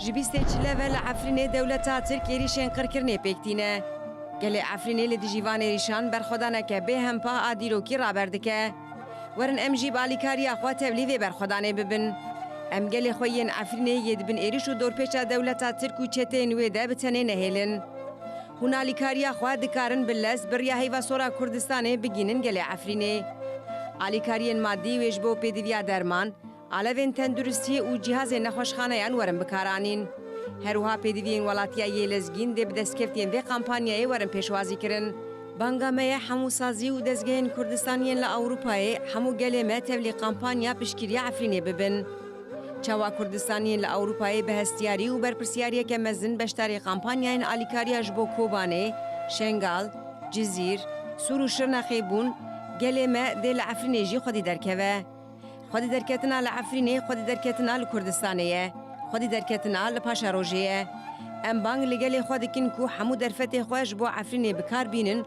Ji bîstê çile ve li Efrînê dewleta Tirk êrîşên qirkirinê pêk tîne. Gelê Efrînê li dijî van êrîşan berxwedaneke bê hempa a dîrokî raber dike. Werin em jî bi alîkariya xwe tevlî vê berxwedanê bibin. Em gelê xwe yên Efrînê yê di bin êrîş û dorpêça dewleta Tirk û çeteyên wê de bi tenê nehêlin. Hûn alîkariya xwe dikarin bi lez bi riya Heyva Sor a Kurdistanê bigînin gelê Efrînê. Alîkariyên madî wê ji bo pêdiviya derman, alevên tenduristiyê û cihazên nexweşxaneyan werin bikaranîn. Her wiha pêdiviyên welatiya yê lezgîn dê bi destkeftiyên vê kampanyayê werin pêşwazîkirin. Banga me ye hemû sazî û dezgehên Kurdistan yên li Ewropayê, hemû gelê me tevlî kampanya piştgiriya Efrînê bibin. Çawa Kurdistaniyên li Ewropayê bi hestiyarî û berpirsyariyeke mezin beşdarî kampanyayên alîkariya ji bo Kobanê, Şengal, Cizîr, Sûr û Şirnexê bûn, gelê me dê li Efrînê jî xwedî derkeve. Xwedî derketina li Efrînê xwedî derketina li Kurdistanê ye, xwedî derketina li Paşarojê ye. Em bang li gelê xwe dikin ku hemû derfetê xwe ji bo Efrînê bi kar bînin,